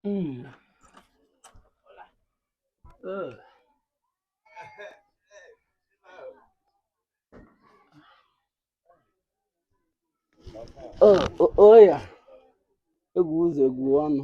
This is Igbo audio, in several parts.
Mm. Ugh. Oh, oh, oya egwu ụzọ egwu ọnụ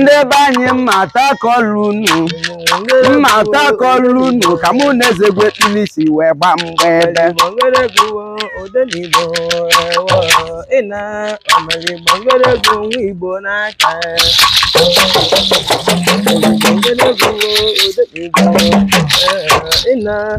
ndị be anyị mma atakọlụ unu mma atakọlụ unu ka mụ na eze egwu ekpili si wee gba mgba ebe ịna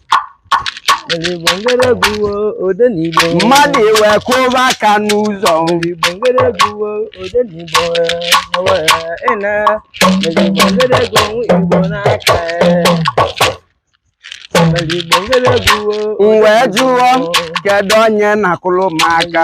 mmadụ ewee kụba aka n'ụzọ m wee jụọ kedu onye na-akụrụ m aka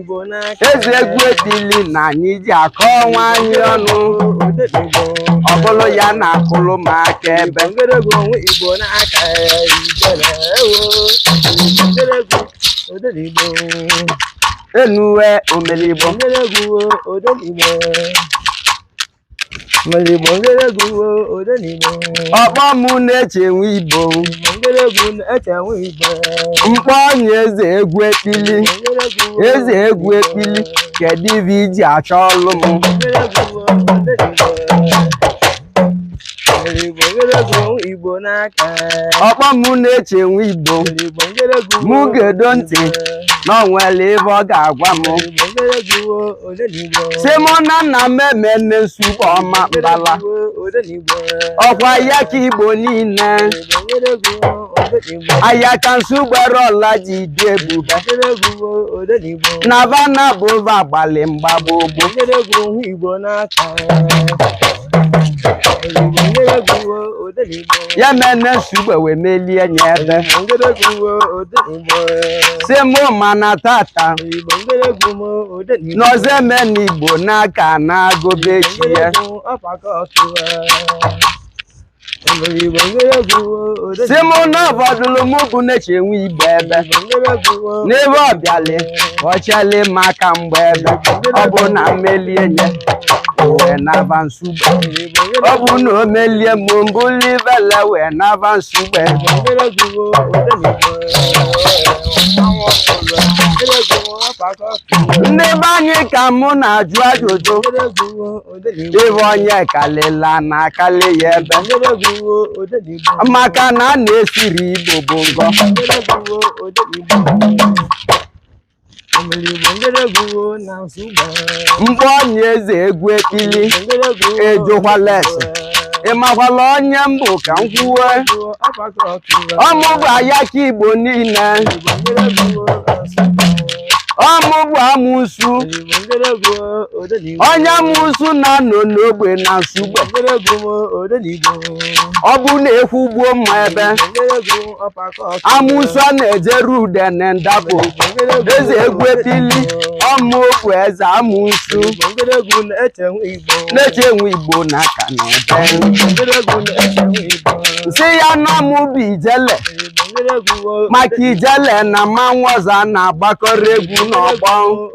eze egwu ekpili na anyị ji akọ onwe anyị ọnụ ọ bụrụ ya na-akụrụ m aka ebe enwe omeli Igbo Igbo ngeregwu ode na Igbo. Ọ kpọọ m na-eche enwe Igbo. Ngeregwu na-eche enwe Igbo. M kpọọ onye eze egwu ekpili. Eze egwu ekpili. Kedu ife i ji achọlụ m? Ọ kpọọ m na-eche enwe Igbo. Mụ gedo ntị na o nwere ihe ọ ga-agwa m. sị m na na mmemme nne Nsugbe Ọmambala ọkwa Ayaka Igbo niile Ayaka Nsugbe ọla ji dị ebube na va na abụa gbalị mgba gboo ogbo ya mene Nsugbe wee melie nye ebe sị mụ mana tata na Ọzọemena Igbo n'aka na-agụbe chi ya sị mụ na ọbọdụlụ mụ bụ na-eche enwe Igbo ebe n'ebe ọ bịalị ọ chelị m aka mgba ebe ọ bụ na m melie nye uwe na avansi ọ bụ na o melie m mbụli bala wee naba nsugbe ndị be anyị ka mụ na-ajụ ajụjụ ebe onye kalịla na akali ya ebe maka na a na-esiri igbo bụ ngọ mgbe onye eze egwu ekpili ejụkwala ese ị makwala onye m bụ ka m kwuwe ọ mụ bụ ayaka igbo niile ọ mụ bụ amụsu onye amụsu na-anọ n'ogbe na nsugbe ọ bụ n'egwu ugbo mma ebe amụsụ a na-ejeru ude na ndapụ eze egwu ekpili ọmụ okwu eze amụsụ na-eche enwe igbo na aka na ebe m sị ya na ọ mụ bụ ijele maka ijele na mmanwụ ọzọ a na-agbakọrọ egwu n'ọgbọ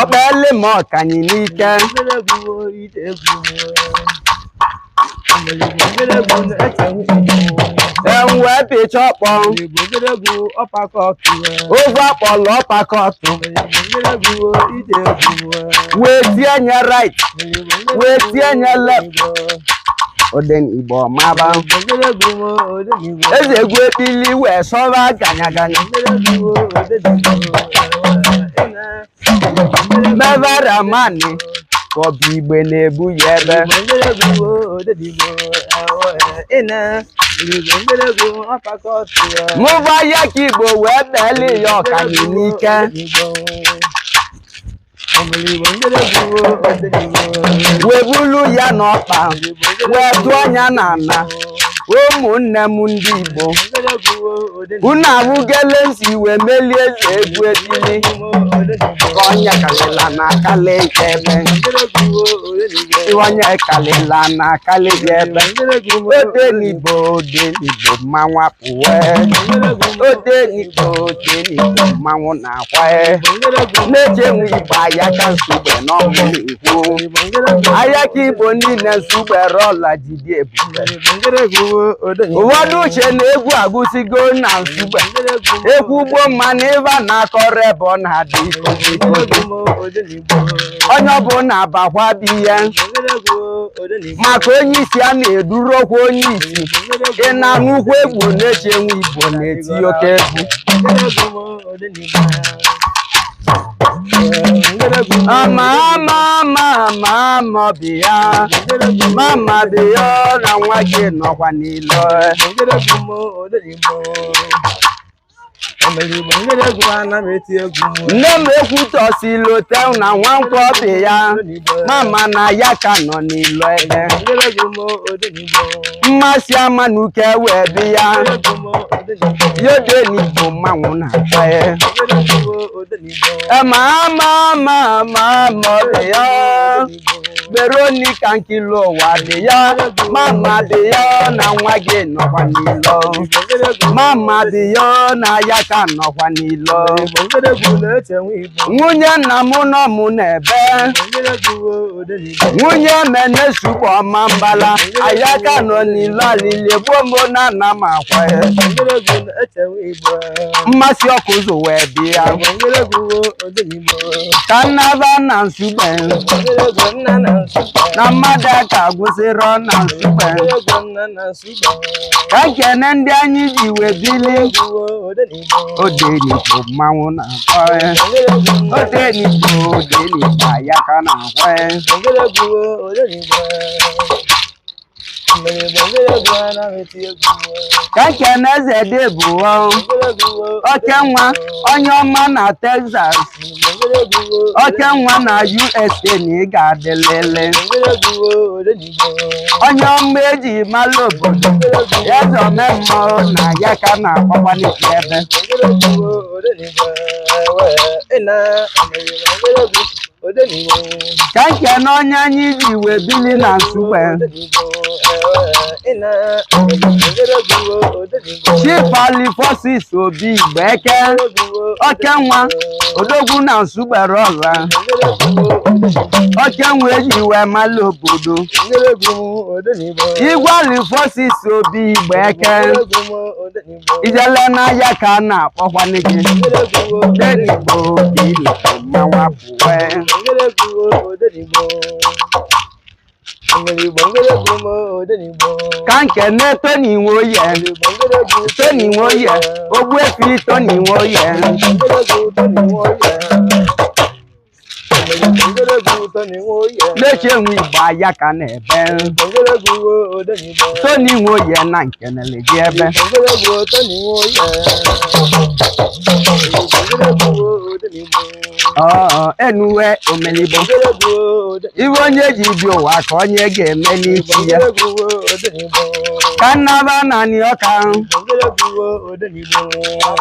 ọkpọle m ọkanyị n'ike enwe pịcha ọkpọ ogwe akpọlụ ọpakọtụ wee tie nye right wee tie nye left odenigbo maba eze egwu ekpili wee sọba ganyaganya mevara mani ka ọ bụ igbe na-ebu ya ebe mụ bụ ayaka igbo wee beli ya ọkani n'ike wee bulu ya n'ọkpa wee tụọ nya n'ala ụmụnne m ndị Igbo unu arụgele m si wee melie eze egwu ekpili ka onye kalịla na akala ike ebe onye kalịla na akala ike ebe odenigbo odenigbo mmanwụ apụwe odenigbo odenigbo mmanwụ na akwa na-eche enwe igbo ayaka nsugbe na ọ mụ na-ekwu ayaka igbo niile nsugbe rọla jide ebube ụfọdụ uche na egwu agụsigo na nsugbe egwu ugbo mma na ịba na-akọrọ ebe ọ na-adị onye ọbụla bakwa bụ ihe maka onye isi a na-eduru okwu onye isi ị na-anụ ukwu egwu na-eche enwe igbo na-eti oke egwu mama mama mama bịa mama bịa na nwa gị nọkwa n'ilo nne m ekwutọsi lote na nwankwọ bịa mama na ayaka nọ n'ilo ebe mma si amanuke wee bịa odenigbo mmanwụ na-akwa ya ma ama ama ama ama ọ bịa veronica nkili ụwa bịa mama bịa na nwa gị nọkwa n'ilo mama bịa na ayaka nọkwa n'ilo nwunye nna m nọ m n'ebe nwunye menesukwu ọmambala ayaka nọ n'ilo alili egbuo m o na ana m akwa ya mma si ọkụzụ wee bịa ka nnaba na nsugbe na mmadụ aka gwụsịrị ọ na nsugbe ekene ndị anyị ji wee bili odenigbo mmanwụ na-akwa ya odenigbo odenigbo ayaka na-akwa ya ka ekene eze dị bụ oke nwa onye ọma na Texas oke nwa na USA na ị ga-adịlịlị onye ọma eji mala obodo eze omemma o na ayaka na-akpọkwanị gị ebe ka nkene onye anyị ji wee bili na nsugbe chief alphonsus obi igbeke oke nwa odogwu na nsugbere ọra oke nwa eji wee mala obodo igwe alphonsus obi igbeke ijele na ayaka na-akpọkwanị gị odenigbo ile mmanwa pụwe ka nkene tony nwoye tony nwoye ogbuefi tony nwoye na-eche enwe igbo ayaka na-ebe tony nwoye na nkenele gị ebe enuwe omenigbo ive onye ji bi ụwa aka onye ga-emeli isi ya ka m naba n'anị ọka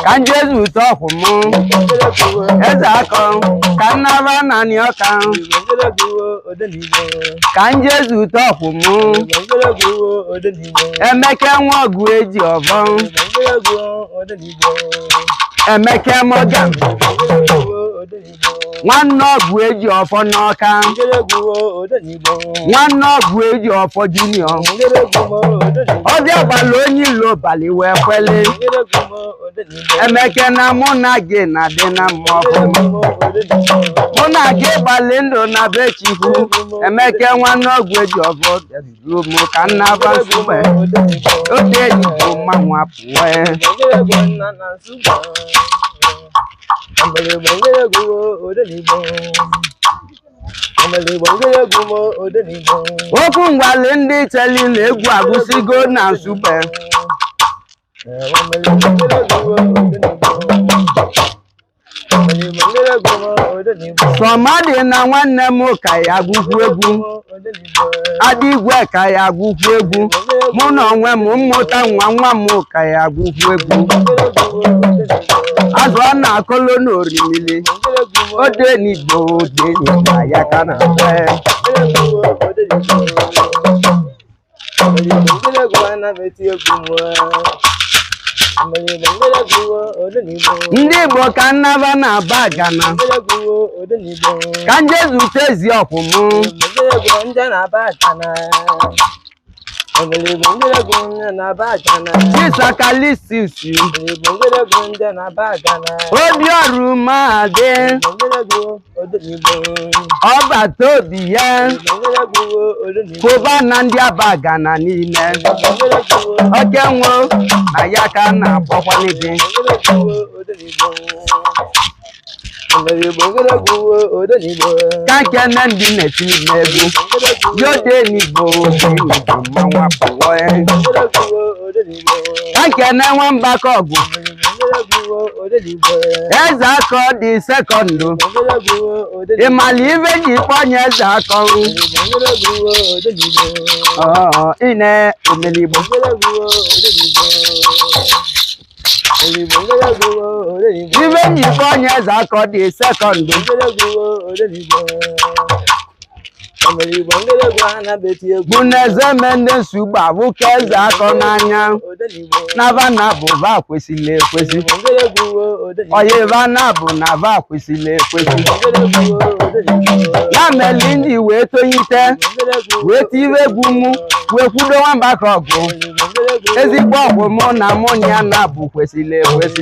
ka m je zute ọkwụ m eze akọ ka m naba n'anị ọka ka m je zute ọkwụ m emeke nwa ọgụ eji ọfọ emeke morgan nwanne ọgụ eji ọfọ n'ọka nwanne ọgụ eji ọfọ junior ọbịa gbala onye ilo bali wee kwele emeke na mụ na gị na-adị na mma ọfụma mụ na gị gbalị ndụ na be chukwu emeke nwanne ọgụ eji ọfọ Lumo ka m naba nsugbe, ode n'Igbo mmanwụ apụọ ya. Okwu m gwalị ndị cheli na egwu agụsigo na nsugbe. sọmadịna nwanne m ka ya gụkwu egwu adigwe ka ya gụkwu egwu mụ na onwe m m mụta nwa nwa m ka ya gụkwu egwu azụ ana-akọlọ n'orimili ode n'igbo ode n'igbo ya ka a na-akpọ ndị igbo ka m naba na abagana ka m je zute ezi ọkwụ mụ chief sir calistus obi ọrụ mahadum ọbata obie kụba na ndị abagana niile okenwa na ya ka a na-akpọkwanye gị ka m kene ndị na-etiri m egwu yo ode n'igbo ode n'igbo mmanwụ apụọ ka m kene nwa mbakọgụ eze akọ the second ị malị ive e ji kpọ onye eze akọ Ọ, ine omenigbo ive m ji kpọ onye eze akọ the second bụ na eze me ndị nsogbu abụ ka eze akọ n'anya na va na bụ va kwesịrị ekwesị ọyị va na bụ na va kwesịrị ekwesị ya meli ndị wee tonyite wee tiwe egwu mụ wee kwudo nwa Mbakọgụ ezigbo ọkwụ mụ na mụ na ya na bụ kwesịrị ekwesị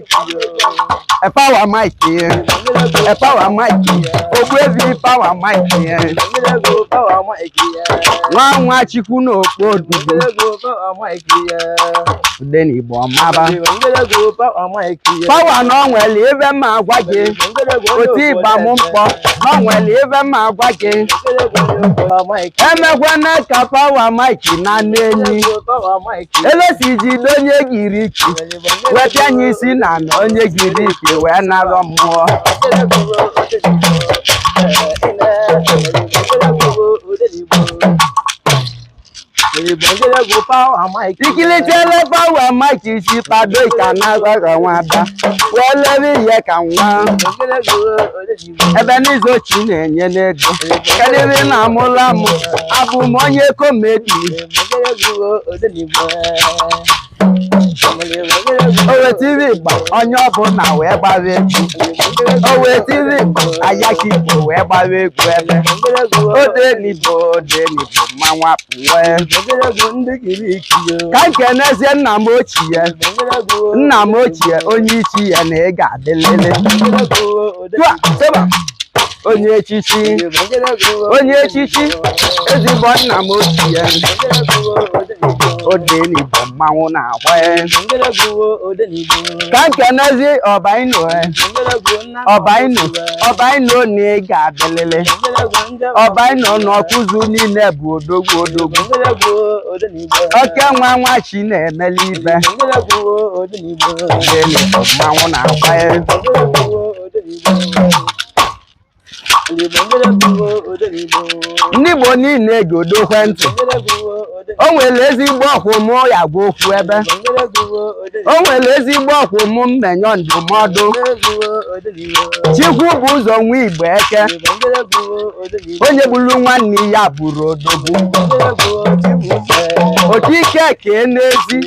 A Power Mike here. A Power Mike here. Oh, crazy Power Mike here. Nwa nwa chikwu na okpo odudu. Odenigbo ọmaba. Power na o nwere ive m agwa gị. Otu ịgba m mkpọ. Na o nwere ive m agwa gị. Emekwana ka Power Mike na Neni. Elesi jido onye giri ike. wee pịa anyị isi na na onye giri ike wee narọ mmụọ ikilitele pawa mike isi kpado ka na-aghọghọ nwada wee lere ihe ka nwa ebe n'izu ochi na-enye n'ego karịrị na amụla m abụ m onye komedi owe tv gba onye ọbụla wee gbawa egwu owe tv gba ayaka igbo wee gbawa egwu ebe odenigbo odenigbo mmanwụ apụwe ka m kenezie nna m ochie nna m ochie onye ichi ya na ị ga-adịlele Tụa, seba. onye echichi onye echichi ezigbo nna m ochie odenigbo mmanwụ na-agba ya ka m kenezie ọbaino ọbaino ọbaino na ị ga-adịlịlị ọbaino na ọkụzụ niile bụ odogwu odogwu oke nwa nwa chi na-emeli ibe odenigbo mmanwụ na-agba ya ndị Igbo niile gedokwe ntị o nwere ezigbo ọkwụ mụ ya-agwa okwu ebe o nwere ezigbo ọkwụ mụ mmenye ndụmọdụ Chikwubụzọ nwa Igboeke onye gburu nwanne ya abụrọ odogwu otu ike kee n'ezi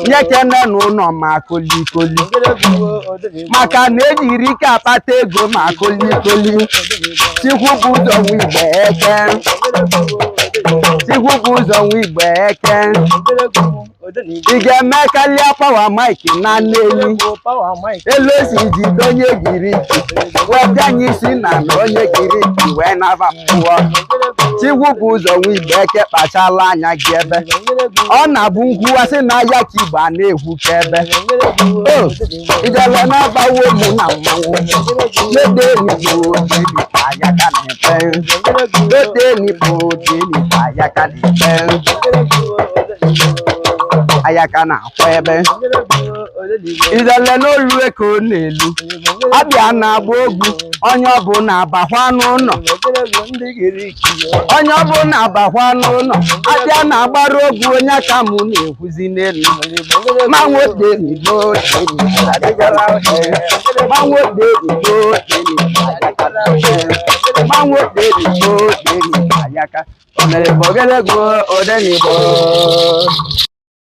nya ekene na ụlọ ma kolikoli maka na ejirọ ike akpata ego ma kolikoli Chikwubụzọ nwa Igboeke Chikwubụzọ nwa Igboeke ị ga-eme karịa pawa mike na Neni elu esi ji donye giri wee bịa anyị isi na na onye giri wee naba mmụọ chigwu bụ ụzọ nwa igbe eke kpachala anya gị ebe ọ na-abụ nkwuwasị na ayaka igbo a na-ekwu ka ebe o ijele na-abawo ụmụ na mmanwụ lede enyi bụ otu enyi ka ayaka na-efe lede enyi bụ otu enyi ka ayaka na-efe ayaka na ebe ijele n'olu ka ọ na-elu abịa na-agba ogwu onye ọbụla abakwa n'ụlọ onye ọbụla abakwa n'ụlọ abịa na-agbara ogwu ayaka m na-ekwuzi n'elu ma nwoke ribo ma nwoke ribo ma nwoke ribo ayaka o mere bụ ogologo odenigbo